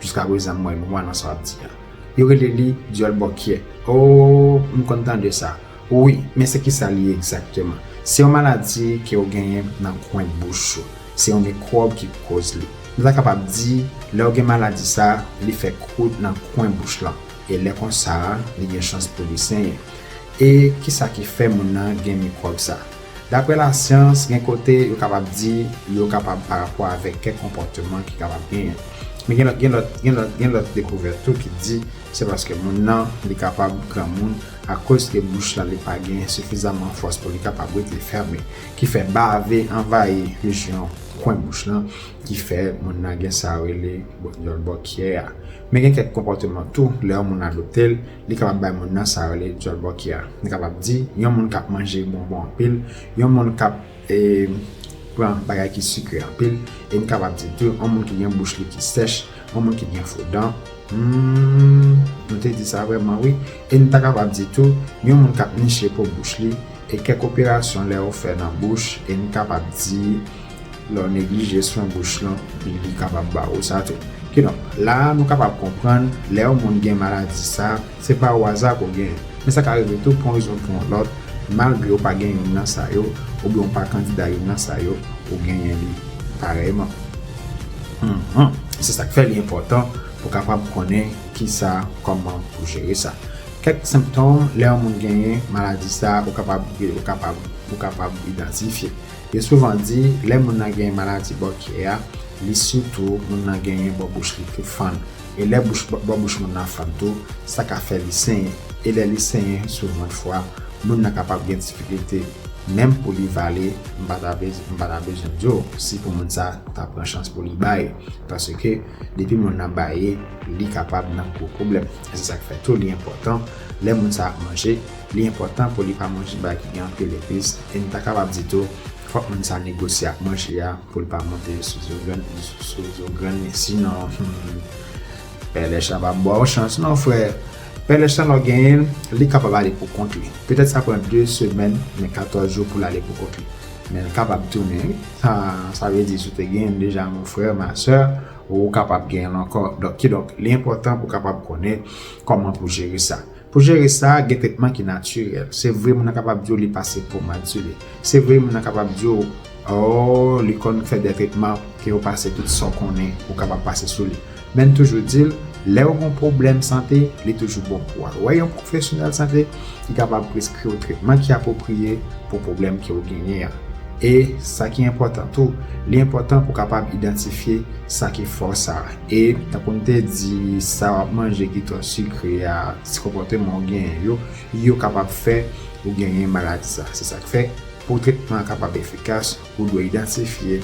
Jiska prezan m wè nwa nan sa wap di a. Yo rele li dyòl bòkyè. Ooh m konn tande sa wi men se kisa li ye egzakteman? Se yon maladi ke ou genyen nan kwen bouch ou. Se yon mikwòb ki pou koz li. Nou ta kapab di lè ou gen maladi sa li fè kwout nan kwen bouch lan e lè konsa li gen chans pou li senyen. E kisa ki fè moun nan gen mikwòb sa? Daprè lasyans, gen kote yo kapab di li yo kapab pa rapò avèk kèk konpòteman ki kapab genyen. Men gen lòt gen lòt gen lòt gen lòt dekouvèt tou ki di se paske moun nan li kapab granmoun akoz ke bouch lan li pa gen sifizaman fòs pou li kapab rete fèmen ki fè bave anvayi plis yon kwen bouch lan ki fè moun nan gen sa yo rele bòkyè a. Men gen kèk konpòteman tou lè yon moun adopte l Li kapab bay moun nan sa yo rele dyòl bòkyè a. Nou kapab di, yon moun k ap manje bonbon anpil, yon moun k ap pran bagay ki sikre anpil, e n kapab di tou, yon moun ki gen bouch li ki sèch, yon moun ki gen fo dan. Humm, nou te di sa vrèman wi. E n ta kapab di tou, yon moun k ap niche po bouch li, e kèk operasyon lè yo fè nan bouch, e n kapab di, Lè w neglije swen bouch lan, li kapab ba ou sa tou. Kidonk, la a nou kapab konprann, lè yon moun gen maladi sa a, se pa o aza ke w genyen. Men sa ka rive tou pou yon rezon pou yon lòt, malgre ou pa gen youn nan sa yo, oubyen ou pa kandida youn nan sa yo, ou genyen li parèyman. Hum-hum. Se sa k fè li enpòtan pou w kapab konnen ki sa, kòman pou w jere sa. Kèk senptòm lè yon moun genyen maladi sa a ou kapab, ou kapab, ou kapab idantifye. Yo souvan di lè moun nan genyen maladi bò kè a, li si tou moun nan genyen bò bouch li ki fann. E lè bouch bò bouch moun nan fann tou, sa ka fè li senyen. E lè li senyen souvan fwa, moun nan kapab gen difikilte menm pou li vale. M pa ta vle m pa ta bezwen di w si pou moun sa ta pran chans pou li baye. Paske depi moun nan baye, li kapab nan gwo pwoblèm. E se sa k fè tou li enpòtan lè moun sa ap manje. Li enpòtan pou li pa manje bagay ki gen anpil epis, e nou ta kapab di tou, fòk moun sa negosye ak manje a pou l pa monte sou zo grann sou zo grann li sinon humm pèlèch la pap ba w chans non frè pèlèch la lè w genyen l li kapab ale pou kont li petèt sa pran 2 semèn men 14 jou pou l ale pou kont li men l kapab tounen wi ha sa vle di si w te genyen l deja mon frè ma sè ou kapab genyen l ankò donk kidonk li enpòtan pou w kapab konnen kòman pou w jere sa. Pou jere sa, gen tretman ki natirèl. Se vre moun nan kapab di w li pase pomad sou li. Se vre moun nan kapab di w oo li konn fè dè tretman ke yo pase tout sa w konnen ou kapab pase sou li. Men n toujou di l, lè w gon pwoblèm sante, li toujou bon pou w al wè yon pwofesyonèl sante ki kapab preskri w tretman ki apwopriye pou pwoblèm ke w genyen an. E, sa ki enpòtan tou, li enpòtan pou w kapab idantifye sa ki fòs a. E tankou m te di, sa w ap manje ki twò sikre a, si konpòteman w genyen yo, yo kapab fè ou genyen maladi sa. Se sa k fè, pou tretman an kapab efikas, ou dwe idantifye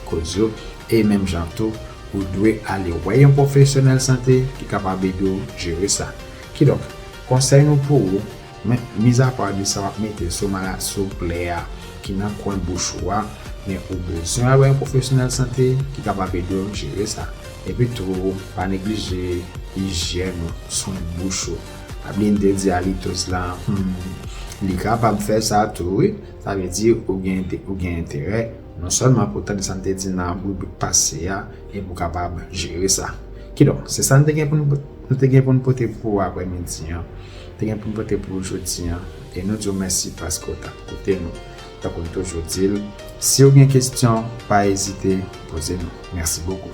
koz yo e menm jan tou, ou dwe ale wè yon pwofesyonèl sante ki kapab ede w jere sa. Kidonk, konsèy nou pou ou. Men, mizapa de sa w ap mete sou malad souple a ki nan kwen bouch ou a, men ou bezwen wè yon pwofesyonèl sante ki kapab ede w jere sa. Epitou, pa neglije ijyèn ou, swen bouch ou. Pa bliye m te di alitoz la, hum, li kapab fè sa tou wi. Sa vle di ou gen enterè non sèlman pou w tande sa n te di nan ribrik pase a e pou w kapab jere sa. Kidonk, se sa n te gen pou n. Nou te gen pou n pote pou ou aprè midi an, te gen pou n pote pou ou jodi an, e nou di w mèsi paske w t ap koute nou. Tankou n toujou di l, si w gen kesyon, pa ezite, poze nou. Mèsi bokou.